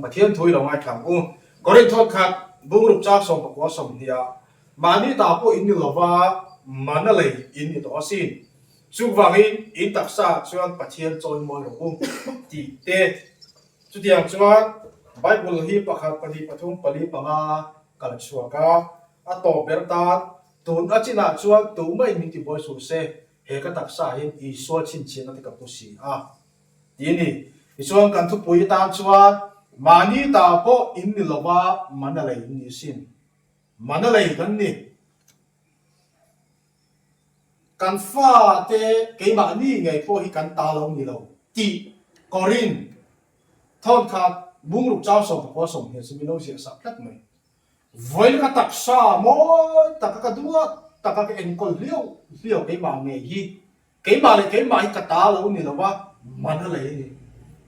Pathian thu i lo ngaithlang u. Korin thawtkhat bungruk chak sawm pakua sawm hnih ah mahni ta pawh in ni lova manna lei in ni tawh a si. Chu vangin in taksa ah chuan Pathian chawi mawi rawh u tih te. Chutiang chuan Bible hi pakhat, pahnih, pathum, pali, panga a kal chhuak a. A tawp ber tan tun a chin ah chuan tumah in min tibuai suh se. He ka taksa ah hian Isua chhinchhiahna te ka hmu si a ti ni. Tichuan kan thupui atan chuan mahni ta pawh in ni lo va, mana lei in ni asin. Mana lei kan ni. Kan fa te keimahni ngei pawh hi kan ta lo ni lo tih Corinne thawnkhat bungruk chau sawm pakua sawm hi a si. Milo ziah sap tlat mai. Vawiin ka taksa mawi taka ka duat taka ka enkawl hliau hliau keimah ngei hi keimah leh keimah hi ka ta lo ni lo a mana lei a ni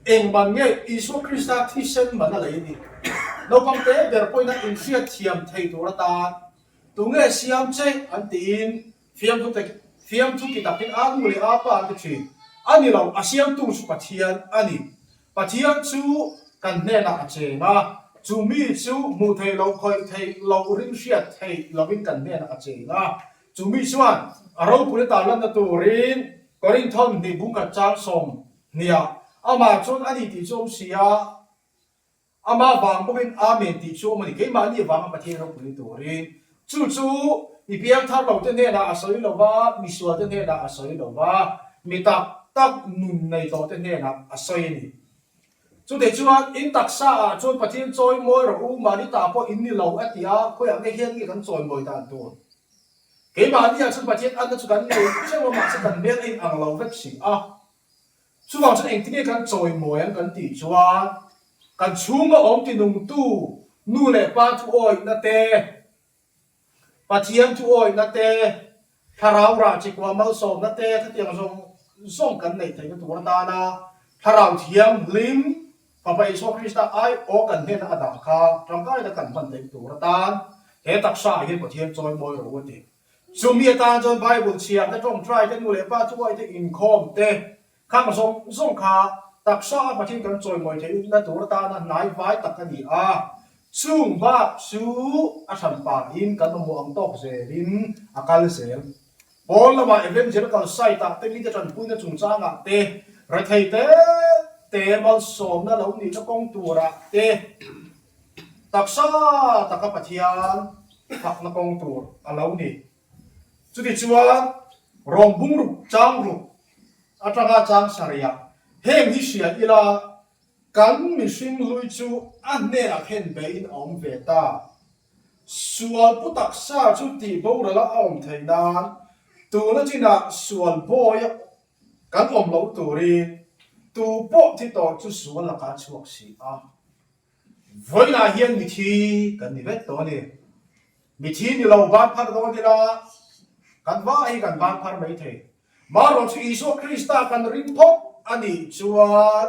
engmah nge Isua Krista thisen mana lei a ni naupang te ber pawina inhriat thiam thei tur atan tunge siam che an tiin Fiamthu te, fiamthu ti takin aa nu leh aa pa an ti thin. A ni lo, a siamtu chu Pathian a ni. Pathian chu kan hnenah a cheng a, chu mi chu hmuh theih loh, khawih theih loh, ring hriat theih lohin kan hnenah a cheng a. Chu mi chuan a ropui a tarlanna turin Korinthon hnih bungkhat chang sawm hniah, Amah chuan a ni tih chu awm si a, Amah vang bawkin Amen tih chu awm a ni. Keimahni avanga Pathian rawk nui turin chu chu mi biangtharlote hnenah a sawi lo va, misualte hnenah a sawi lo va, mi tak tak nun nei tawhte hnenah a sawi a ni. Chutih chuan in taksa ah chuan Pathian chawi mawi rawh u, mahni tah pawh in ni lo a ti a, khawiah nge hian nge kan chawi mawi dan dawn? Keimahni ah chuan Pathian anna chu kan nei ṭeuh a, mahse kan hmel a inang lo vek si a. Chuvang chuan engtin nge kan chawi mawi ang kan tih chuan kan chhunga awm tinungtu nu leh pa thuawihna te, Pathian thuawihna te, thlarau rah che kua malsawmna te khatiang zawng zawng kan neih theihna tur atana Thlarau Thianghlim Fapa Isua Krista ai aw kan hnenah a dah kha tangkaina kan hman theih tur atan he taksa ah hian Pathian chawi mawi ro a ti. Chumi atan chuan Bible chhiahna tawng try te, nu leh pa tuai te, inkhawm te khang zawng zawng kha taksa a pathian kan chawimawi thei ukna tur atana hnai vai tak a ni a. Chung bak chu a hran pahin kan mamawh ang tawk zelin a kal zel. Pawl lama evangelical site ah te, mite tanpuina chungchangah te, rethei te te malsawmna lo nihna kawng turah te, Taksa taka Pathian fakna kawng tur a lo ni. Chutichuan rawng bungruk changruk atanga changsaria heng hi hria ila kan mihring hlui chu a hnenah khen beiin a awm ve ta. Sual pu taksa chu tih borala a awm thei nan tuna chinah sual bawiah kan awm lo turin tu pawh thi tawh chu sual laka chhuak si a. Vawilah hian mithi kan ni vek tawh a ni. Mithi ni lo van phar dawn ila kan va hi kan van phar mai thei. Mah rawn chu Isua Krista kan ring thawk a nih chuan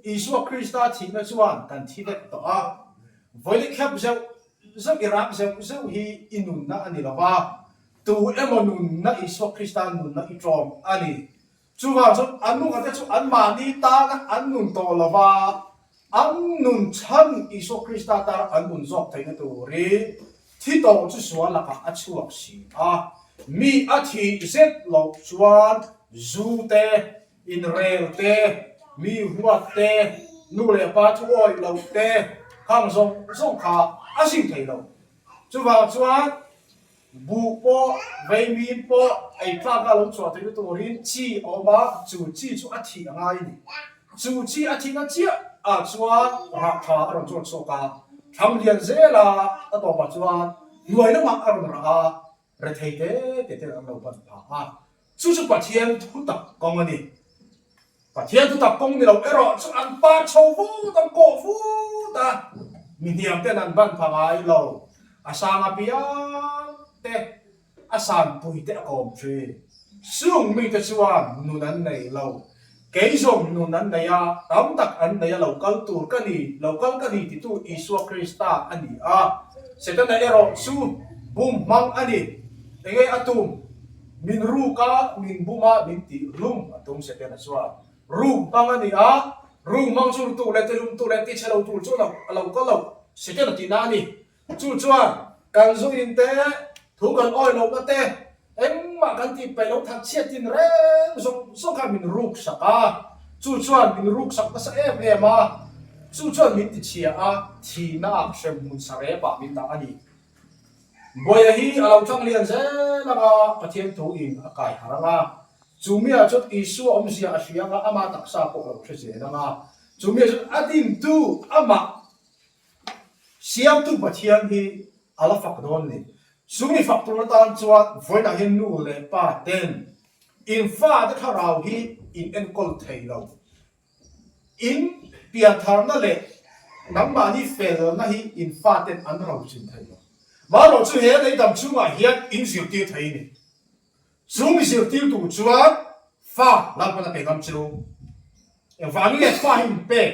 Isua Krista thihna chuan kan thi vek tawh a. Vawileh khep zeuh zeuh i rang zeuh zeuh hi i nunna a ni lo va. Tu emaw nunna Isua Krista nunna i ṭawng a ni. Chuvang chuan a nunga te chu anmahni tana an nun tawh lo va, an nun chhan Isua Krista tana an nun zawk theihna turin thi tawh chu sual lakah a chhuak si a. Mi a thih zet loh chuan zu te, inrel te, mi huat te, nu leh pa thu awih loh te, khang zawng zawng kha a zing thei lo. Chuvang chuan. Buh pawh, veimi pawh ei tlak a lo chhuah theihna turin chi a awm a, chu chi chu a thih a ngai a ni. Chu chi a thihna chiah ah chuan rah tha a rawn chawt chhuak a, thlang lian zel a a tawpah chuan hnuai lamah a rawn rah a, rethei te te ten an lo pan phah a, Chu chu Pathian thutak kawng a ni. Pathian thutak kawng ni lo erawh chu an par chho fut, an kawh fut a. Mi hniam ten an ban pangai lo. A sang apiang te, a sanpui te a kawm thin. Chung mite chuan nun an nei lo. Kei zawng nun an nei a, tam tak an nei a lo kal tur ka ni, lo kal ka ni titu Isua Krista a ni a. Setana erawh chu bum hmang a ni. Enge a tum? Min ruk a, min bum a, min ti rum a tum Setana chuan. Ruk hmang a ni a, ruk hmang chu rutu leh tilumtu leh tichhe lo tur chuan a lo kal lo, Setana tihna a ni. Chu chuan kan zungin te, thu kan awi lohna te, engmah kan tih peih lo that chiah tin reng zawng zawng kha min ruk sak a. Chu chuan min ruk sak nasa em em a. Chu chuan min ti chhia a, thihnaah hrem hmun saree pah min dah a ni. Bawia hi a lo tlang lian zel anga Pathian thu in a kaiha rang a. Chu mi ah chuan Isua awmzia a hria anga amah taksa pawh a lo hre zel anga. Chu mi ah chuan a dintu amah Siamtu Pathian hi a la fak dawn ni. Sumi fak tur atan chuan vawiinah hian nu leh pa ten in fate thlarau hi in enkawl thei lo. In piantharna leh nangmahni felna hi in faten an rawn chin thei lo. Mahlo chu he leidam chungah hian in zirtir thei a ni. Chu mi zirtir tur chuan fa lalpana pe ngam che u. Engvang in fa hi in pek?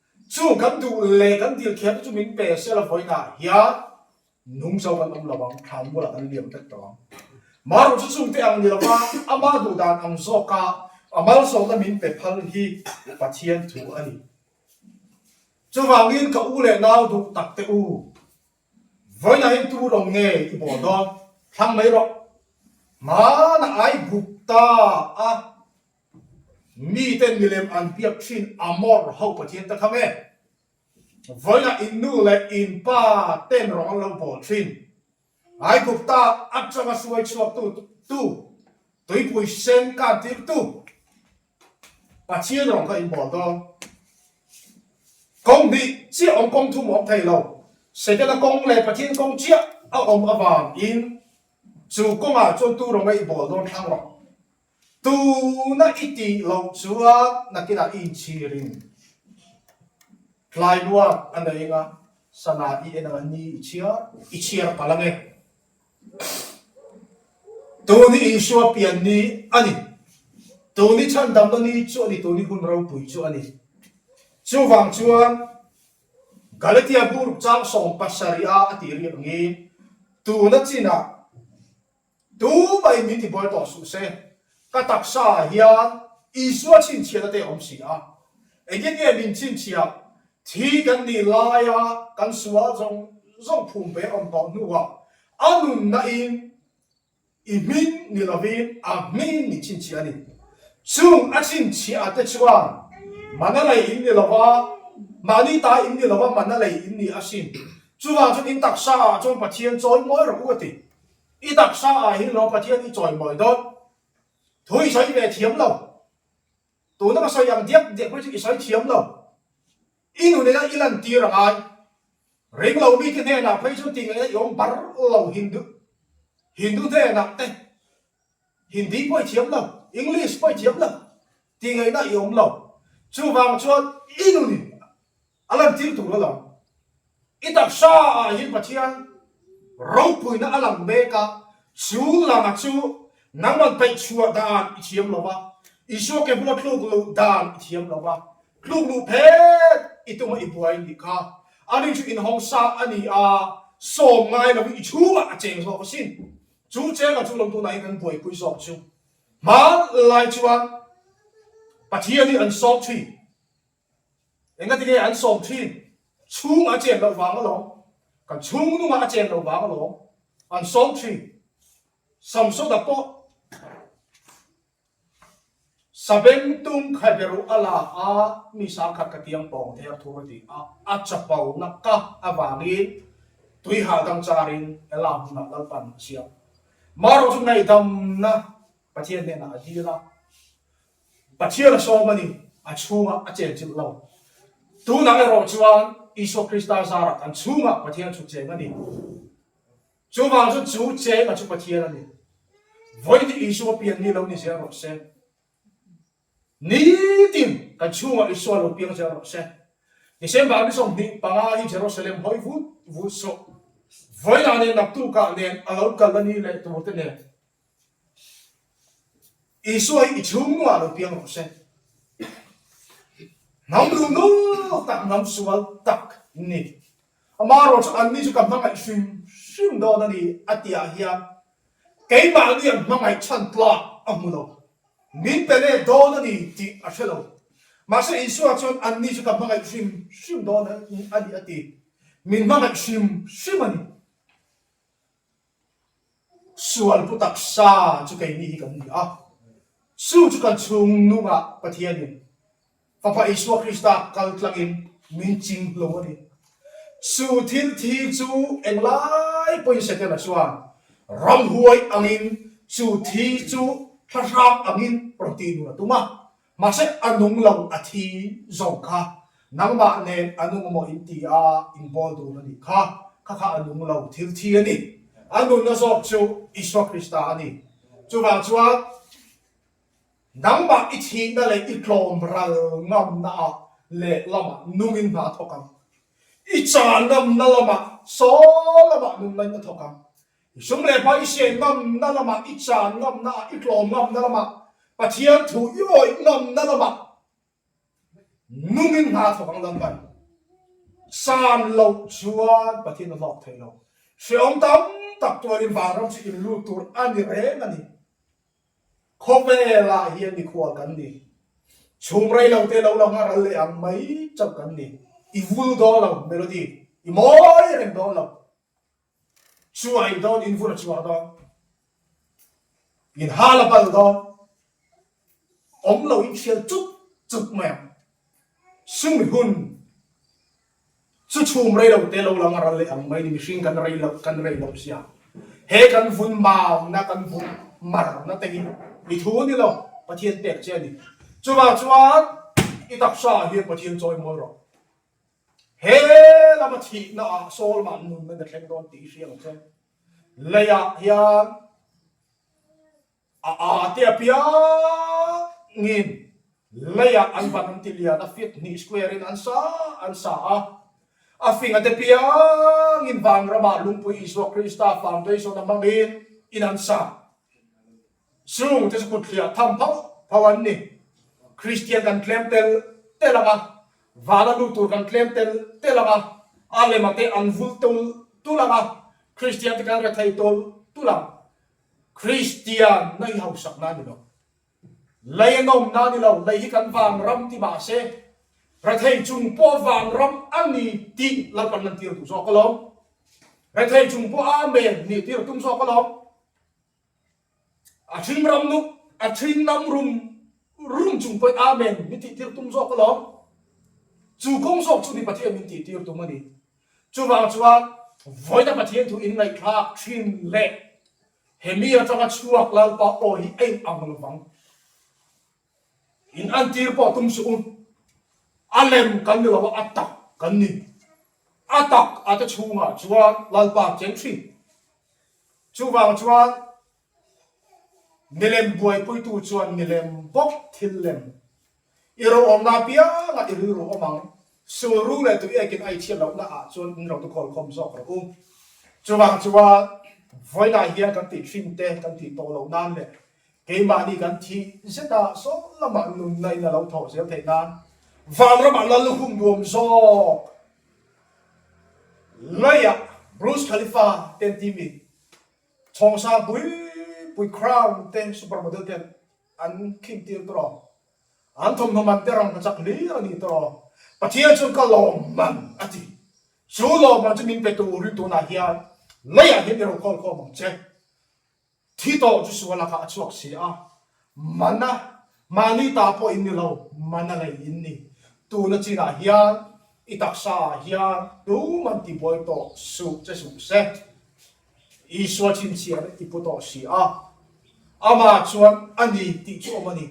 Chu kan duh leh kan dil thiam te chu min pe se lo fawi na hian nung chau kan awm lo ang, thlan bulah kan liam vek tawh ang. Mah ruh chu chungte ang ni lova amah duh dan ang zawka a malsawmna min pe phal hi Pathian thu a ni. Chuvangin ka u leh nau duh tak te u. Vawiinahin tur awm nge i bawl dawn? Thlang mai rawh. Hmana ai buk ta a Miten milem an biak thin Amor ho pathian te kha nge? Vawilah in nu leh in pa ten rawng an lo bawl thin. Aigupta atanga suai chhuaktu tu tuipui sen kan tirtu pathian rawng kha in bawl dawn. Kawng hnih chiah awm kawng thum awm thei lo. Satan-a kawng leh pathian kawng chiah a awm avangin chu kawngah chuan tu rawng a i bawl dawn thlang lo. Tuna i tih loh chuan nakinah i inchhir in tlailuat a nei anga sana i en anga ni i chhiar, i chhiar palh ange. Tuni insua pian ni a ni. Tuni chhan damna ni chu a ni, tuni hun ropui chu a ni. Chuvang chuan Galatia bu ruk chang sawm pasarih a a tih riak angin tuna chinah Tu mai min tibual tawh suh se, ka taksa ah hian Isua chhinchhiat ate awm si a, engin nge min chhinchhiat? Thi kan nih lai a kan sual zawng zawng phum ve awm paoh hnu ah a nunna in i hmin ni lovin a hmin nih chhinchhiat a ni. Chung a chhinchhiat ate chuan mana lei in ni lova, mahni ta in ni lova mana lei in nih a si. Chuvang chu min taksa ah chuan Pathian chawi mawi rawh u a ti. I taksa ah hin lo Pathian i chawimawi dawn. Thu i sawi ve thiam lo. Tuna ka sawi ang diak diak pawh chu i sawi thiam lo. I nu nena i lantir a ngai. Ring lo mite hnenah phei chu ti ngeina i awm bar lo. Hindu Hindu hnenah te Hindi pawh i thiam lo, English pawh i thiam lo. Ti ngeina i awm lo. Chuvang chuan i nu nih A lantir tur a lang. I taksa ah hin Pathian ropuina a lang bek a, chu lama chu nangmang peih chhuah dan i thiam lo a, Isua ke hmua tluk luh dan i thiam lo a, tluk luh phet i tum a i buai nih kha a ning chu in hawng sa a ni a, sawm ngai lo in i chhung ah a cheng zawk a si. Chu cheng a chu lawm tun ah hin kan buaipui zawk chu hmanlai chuan Pathian hi an sawm chhi. Engatinge an sawm thin? Chhungah a chen loh vanga lawng, kan chhung nungah a chen loh vanga lawng an sawm thin. Samsona pawh sabeng tum kha beruh a la a, mi sang khat ka tiang pawng e a thur a ti a. A chapo naka avangin tui hal dang charin Ela hmunah lalpan a siam. Mah erawh chu ngaidamna Pathian hnenah a dil a. Pathian a sawm a ni, a chhungah a cheng chilh lo. Tunah erawh chuan Isua Krista zara kan chhungah Pathian chhut cheng a ni. Chuvang chu chu chenga chu Pathian a ni. Vawiin Isua pian mi lo ni zel rawh se, nitin kan chhungah Isua lo piang zel rawh se, December ni sawmhnih panga hi Jerusalem hawi vut vut sawh vawiinah nen naktukah nen a lo kal a ni leh turte nen Isua hi i chhung nuaha lo piang lo ka hre. Hnam lu nu tak hnam sual tak ni. Amarawh chu anni chu ka hmangaih hrim hrim dawn a ni a tihah hian keimah ni an hmangaih chhan tlak a hmu lo. Min pe leh dawn a ni tih a hre lo. Mahse Isua chuan anni chu ka hmangaih hrim hrim dawn a ni a ti. Min hmangaih hrim hrim a ni. Sual pu taksa chu keini hi kan ni a, Su chu kan chhung nungah Pathianin, Fapa Isua Krista kal tlangin min ching lo a ni. Su thil thi chu eng lai pawhin sia tela chuan ramhuai angin chu thi chu thlahrang angin rawn tih nun a tum a, Mahse a nung lo a thi zawng kha nangmah nen a nung maw in ti a inbawl dun a nih kha, kha kha a nung lo thil thi a ni. A nunna zawk chu Isua Krista a ni. Chuvang chuan nangmah i thihna leh i tlawm ral ngamna ah lehlamah nungin hna thawk ang, i cha ngamna lamah saw lamah nunglain a thawk ang. I sum leh hma i se ngamna lamah, i chan ngamna ah, i tlawm ngamna lamah, Pathian thu i awih ngamna lamah nungin hna thawk ang lam kan san loh chuan Pathian a hlawk thei lo. Hreawm tam tak tuarin vanram chu inlut tur a ni reng a ni. Khawvelah hian mikhual kan ni, chhum rei lo te lo lang a, ral leh ang mai chauh kan ni, i vul dawn lo melody i mawi reng dawn lo. Chhuah in dawn in vur a chhuah dawn. In hal a bal dawn. Awm lo in hrial chup chup mai ang. Sumi hun chu chhum rei lo te lo lang a ral leh ang mai ni mihring kan rei lo kan rei lo sia. He kan vun mau na kan vun mar na te hi i thu ni lo Pathian pek che a ni. Chuvang chuan i taksa ah hian Pathian chawi mawi rawh. He lama thihna ah Solomon nunna na thleng dawn tih i hria lo che. Lei ah hian a aa te apiang in lei ah an ban an ti lian a feet hnih square in an sa an sa a. A fing a te piang in vang ram ah lungpui Isua Krista fangtuai zawn a hmang in in an sa. Chhung te chu kutthliah tham pho pho an ni. Kristian kan tlem tel tel ang a, vala lut tur kan tlem tel tel ang a, a lema te an vul tul tul ang a, Kristian te kan rethei tul tul ang. Kristianna hi hausakna a ni lo. Lei a nawmna a ni lo, lei hi kan vangram tih mah se rethei chung pawh vangram a ni tih lo kan lantir duh zawk alawm. Rethei chung pawh a men ni tih tirh tum zawk alawm. A hring ram nuk, a hring lam rum rum chung pawih amen min tihtir tum zawk alawm. Chu kawng zawk chu mi Pathian min tihtir tum a ni. Chuvang chuan vawiina Pathian thu inngaihtlak thin leh hemi atanga chhuak Lalpa aw hi a inang lovang. In an tir pawh tum suh u. A lem kan ni lo a, a tak kan ni. A tak a te chhungah chuan Lalpa an cheng thin. Chuvang chuan milem buaipuitu chuan milem bawk thil lem i rawh awmna apiangah i rilru awm ang. Sulru leh tuekin ai chhiat loh naah chuan in rawngte khawl khawm zawk rawh u. Chuvang chuan vawilah hian kan tih thin te kan tih tawh loh nan leh Keimahni kan thih zeta sawi lamah nunna in a lo thawh zel theih nan vang ramah nan lukhum nuam zawk laia Burj Khalifa te an ti mi chhawngsang pui pui crown te super model te an khim tir tur aw an thawmhnaw man te rang hmachak hlir a ni tur aw Pathian chuan ka lawm man a ti chu lawm man chu min pe tur rin tunah hian laia hian i rophawl khawm ang che Thi tawh chu sual lakah a chhuak si a, mana mahni ta pawhin ni lo, mana lei in ni. Tuna chinah hian i taksa ah hian tum an ti buai tawh suh che suh se. Isua chhinchhiar i pu tawh si a, amah chuan a ni tih chu awm a ni.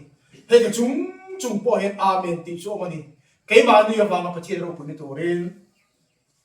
Heti chung chung pawh hian amen tih chu awm a ni. Keimahni avanga Pathian ropui ni turin.